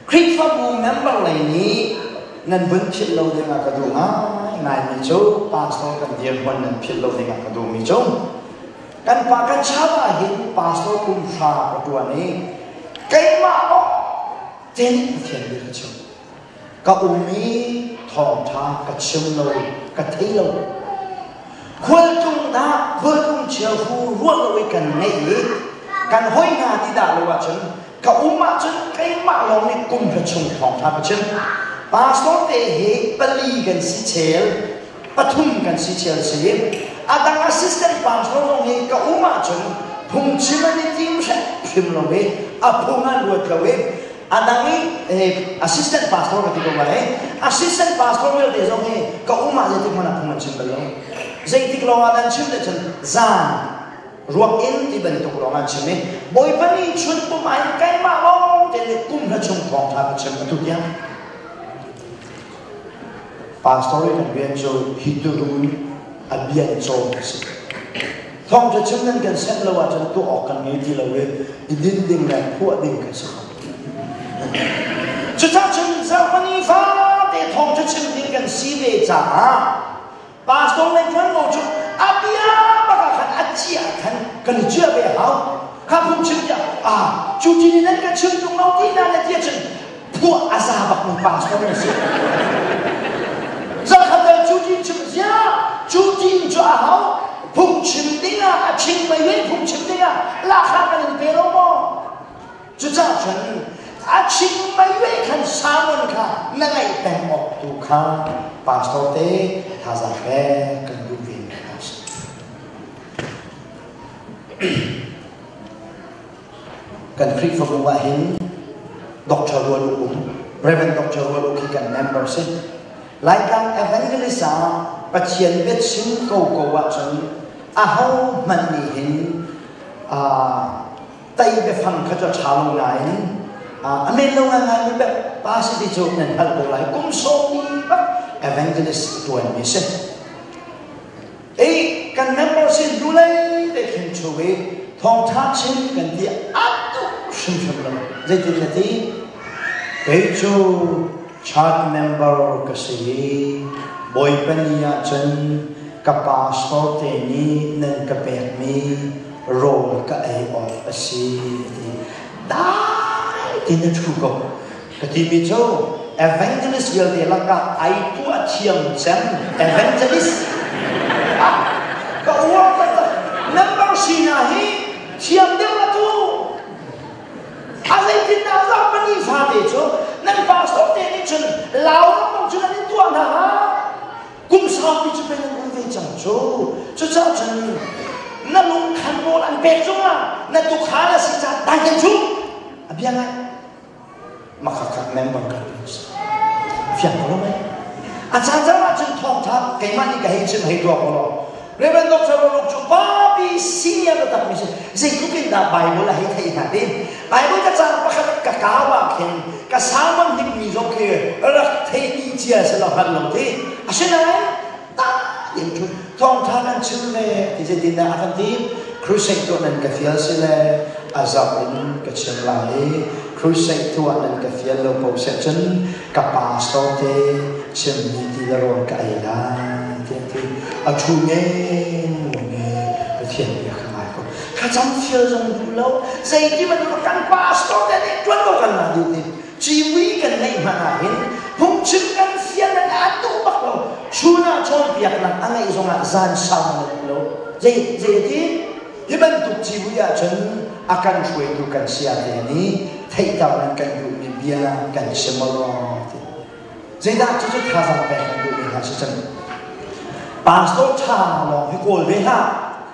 Khrihfabu member lei nih nan vun philh lo dingah ka duh ngaingaimi cu pastor kan dirhmun nan philh lo dingah ka duhmi cu kan pa kan chau ahhin pastor kum hra ka ṭuan i keimah kong Pathian nih Pathian bia kan chim. ka um i thawngṭha ka chim lo ka thei lo khualtlung dah khualtlung chia hu ruah lo i kan ngeih i kan hoi hna ti dah lo ahcun ka um ahcun keimah lawng nih kum hra chung thawngṭha ka chim pastor te hi pali kan si chel pathum kan si chel si a dang assistant pastor zong hi ka um ahcun phungchim an i tim hrim lo i a phung an ruat lo i Andang i assistant pastor ka ti ko male assistant pastor vialte zong hi ka um ah zeitik hmanh ah phung an chim bal lo zeitik lawng ah dan chim le cun zan ruak in ti bantuk lawng an chim i bawipa nih chun pum ah hin keimah lawng te le kum hla chung thawngtha ka chim atu tiang pastor i kan rian cu hi turum a bian cawn a si Thawng cu chim nan kan senh lo ahcun tuah awk kan ngei ti lo i i din ding le phuah ding kan si kho. Cucang cun zarhpani fate thawng cu chim ding kan si ve caah pastor le ṭuanvo cu a bia baka khan a ciah than kan i ciah ve hau. Kha phun chim tiah ah cu ti nih nan ka chim ṭung lo ti na le ti cun phuah a za bakmi pa chawn an si. Zakhat dal cu ti chim ziah cu ti cu a hau phungchim dingah a ching mei vei phungchim dingah lahra kan in pe lo maw cucaah cun a ching mei vei khan Simon kha na ngaih peng awk tu kha pastor te thazang pek kan duh ve a si Kan Khrihfabu ah hin Dr. Rual U, Reverend Dr. Rual U khi kan member si. Laitlang Evangelist ah Pathian biachim ko ko ahcun a ho hmanh nih hin uh, tai biafang kha cu ṭha lo nain uh, a men lo nganmi bel pa si ti cu nan hngalh ko lai kum sawmi bak evangelist ṭuanmi si. Ei kan member sin tu lei te khin chung i thawngtha chim kan ti a tuk hrimhrim lo. Zeitin na ti? Kei cu chan member ka si i Bawipa ni ah cun ka pa sorte nih nan ka pekmi rawl ka ei awk a si a ti. Dai tiin a thu ko. Ka timi cu evangelist vialte lakah ai tu a thiam cem evangelist ka uar taktak nan bang sinak hi thiam deuh la tu a zeitindah zong pahnih fate cu nan pastor te nih cun lau bang cun an in tuah hna kum saupi cu pe nan um ve cang cu cucaah cun na lungkhan rawl an pek cungah na tukhal a si caah dai kan cu a bia ngai Makhakhat mengmang kan fiang ko mai. A chan chan ah cun thawngtha keimah nih ka hei chim hei ruang law Reverend Dr. Roruk cu papi senior na takmi si zeitluk in dah Bible a hei thei hna ti Bible ka caan pakhat ka kau ah khin ka salmon hnikmi zong khi rak theimi cia si lo han lo ti asinain tak in thawngṭha nan chim le ti zeitindah a kan ti crusade tuah nan ka fial si le a zau in ka chim la i crusade tuah nan ka fial lo ko seh cun ka pastor te chimmi ti le rawl ka ei lai ti ti a ṭhu men lo ne Pathian nih a ka ngai ko thlacam fial zong duh lo zeiti bantuk kan pastor te nih ṭuan ko kan la duh ti cimui kan ngeih hmanh ahhin phungchim kan fian an a duh bak lo chunah cawnpiaknak a ngeih zongah zan sau a lo lo zei zeiti hi bantuk cimui ahcun a kan hruaitu kan sayate nih theihternak kan duhmi bia kan chim rong ti zeidah cucu thazaang pek kan duhmi hna si cun pastor tha lawng hi kawl ve hlah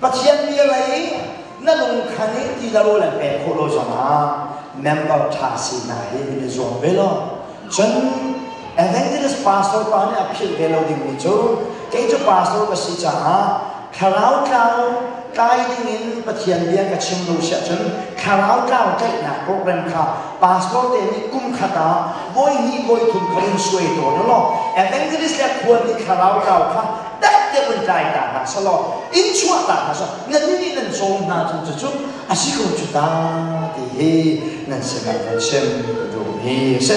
Pathian bia lei na lungkhan i ti lo le pek khawh lo zongah member ṭha si hna hi nan i zuam ve lo. Cun Evangelist pastor pa nih a philh ve lo dingmi cu kei cu pastor ka si caah thlarau tlau tlai dingin Pathian bia ka chim lo si ahcun thlarau tlau tlaihnak program kha pastor te nih kum khat ah voi hnih voi thum kha in suai tawn u law evangelist le khual nih thlarau tlau kha dek tiang nan kai ta hna selaw inn chuah ta hna selaw nannih nih nan cawm hna cu cucu a si ko cu ta ti hi nan sinah va chim ka duhmi a si